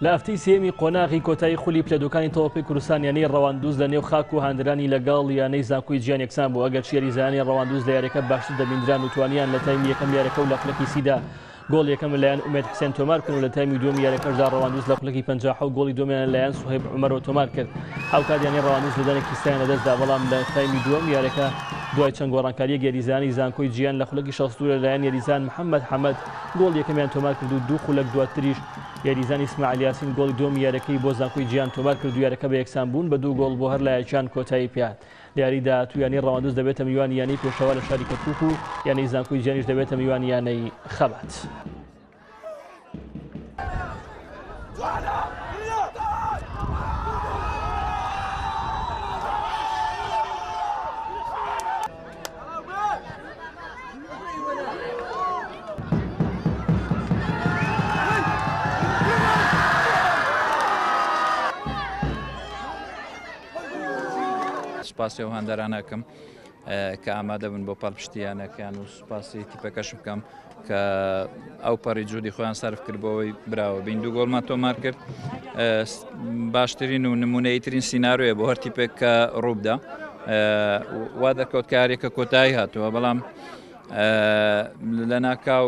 لە ئەفتەی سێمی قۆناغی کۆتایی خولی پلە دوکانی تۆپی کوردستان یانەی ڕەواندوز لە نێو خاک و هاندرانی لەگەڵ یانەی زانکۆی جیان یەکسان بوو ئەگەر چیاری زانانی ڕەواندوز لە یاریەکە باشتر دەبیندران و توانیان لە تایمی یەکەم یاریەکە و لە خولەکی سیدا گۆڵ یەکەم لەلایەن ئومێد حسێن تۆمار کرد و لە تایمی دوم یاریەکەشدا ڕەواندوز لە خولەکی پنجاه و گۆڵی دومیان لەلایەن سوهیب عمەرەوە تۆمار کرد هاوکات یانەی ڕەواندوز لەدانێکی سیان لەدەستدا بەڵام لە تایمی دوم یاریەکە دوای چەند گۆڕانکارییەک یاریزانانی زانکۆی جیهان لە خولەکی شەست و دوو لەلایەن یاریزان محەمەد حەمەد گۆڵی یەکەمیان تۆمارکرد و دوو خولەک دواتریش یاریزان ئیسماعیل یاسین گۆڵی دووەمی یارییەکەی بۆ زانکۆی جیهان تۆمارکرد و یاریەکە بە یەکسانبوون بە دوو گۆڵ بۆ هەر لایەکیان کۆتایی پێهات. لە یاری داهاتوو یانەی ڕەواندز دەبێتە میوانی یانەی پێشەوا لە شاری کەرکوک و یانەی زانکۆی جیهانیش دەبێتە میوانی یانەی خەبات. سوپاسی ئەو هاندەرانە ئەکەم کە ئامادە بن بۆ پاڵپشتی یانەکەیان و سوپاسی تیپەکەش بکەم کە ئەو پەڕی جوودی خۆیان سرف کردبەوەی براوە بین دوو گۆڵمان تۆمار کرد باشترین و نمونەی ترین سینناروێ بۆ هەرتی پێک کە ڕووبدا وا دەکەوت کارێکە کۆتایی هاتووە بەڵام لە ناکاو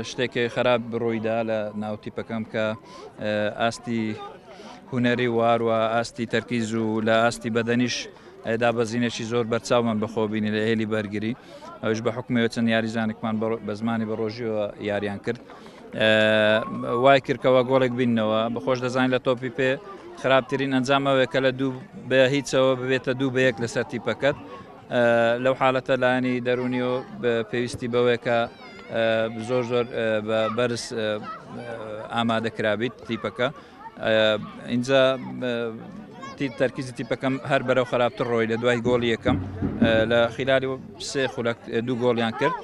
شتێکی خراپ بڕۆیدا لە ناوتی پەکەم کە ئاستی هوەری واروە ئاستی تەرکیز و لە ئاستی بەدەنیش دابەزینێکی زۆر بەرچاومان بەخۆبینی لە هێلی بەرگری ئەوش بە حکومەوە چەند یاریزانێکمان بە زمانی بە ڕۆژیەوە یاریان کرد وای کردکەوە گۆڵێک بینەوە بەخۆش دەزانین لە تۆپی پێ خراپترین ئەنجامەوە کە لە دوو بە هیچەوە ببێتە دوو بەیەک لەسەر تیپەکەت لەو حالەتە لایەنی دەرونی و پێویستی بەوەیەکە زۆر زۆر بەرز ئامادە کرابیت تیپەکە ئینجا تیت تەرکیزی تیپەکەم هەر بەرەو خراپتر ڕۆی لە دوای گۆڵ یەکەم لە خیلالی سێ خولک دوو گۆڵیان کرد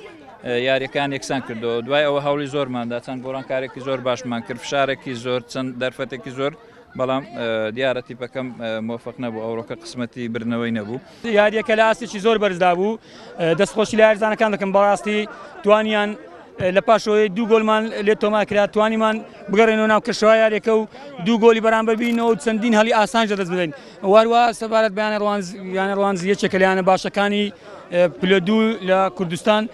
یاریەکان یەکسان کردو دوای ئەوە هەوڵی زۆرماندا چەند گۆڕانکارێکی زۆر باشمان کرد فشارێکی زۆر چەند دەرفەتێکی زۆر بەڵام دیارە تیپەکەم مۆفق نەبوو ئەوڕۆکە قسمەتی برنەوەی نەبوو یاریەکە لە ئاستێکی زۆر بەرزدا بوو دەستخۆشی لە یارزانەکان دەکەم بەڕاستی توانیان لە پاشەوەی دوو گۆلمان لێ تۆماکرا توانیمان بگەڕێنەوە ناو کەشوە یاریەکە و دوو گۆلی بەرامبەر بینەوە و چەندین هەڵی ئاسان جە دەست بدەین واروا سەبارەت بیانە ڕوانزیانە ڕوانزی یەکێکە لەیانە باشەکانی پلە دوو لە کوردستان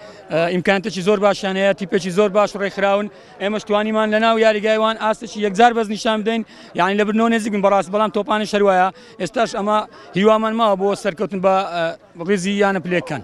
ئیمکانتێکی زۆر باشیان هەیە تیپێکی زۆر باش ڕێکخراون ئێمەش توانیمان لە ناو یاریگایوان ئاستێکی یەکجار بەس نیشان بدەین یعنی لە برنەوە نێزیکن بەڕاست بەڵام تۆپانی شەروایە ئێستاش ئەمە هیوامان ماوە بۆ سەرکەوتن بە ڕیزی یانە پلێکان.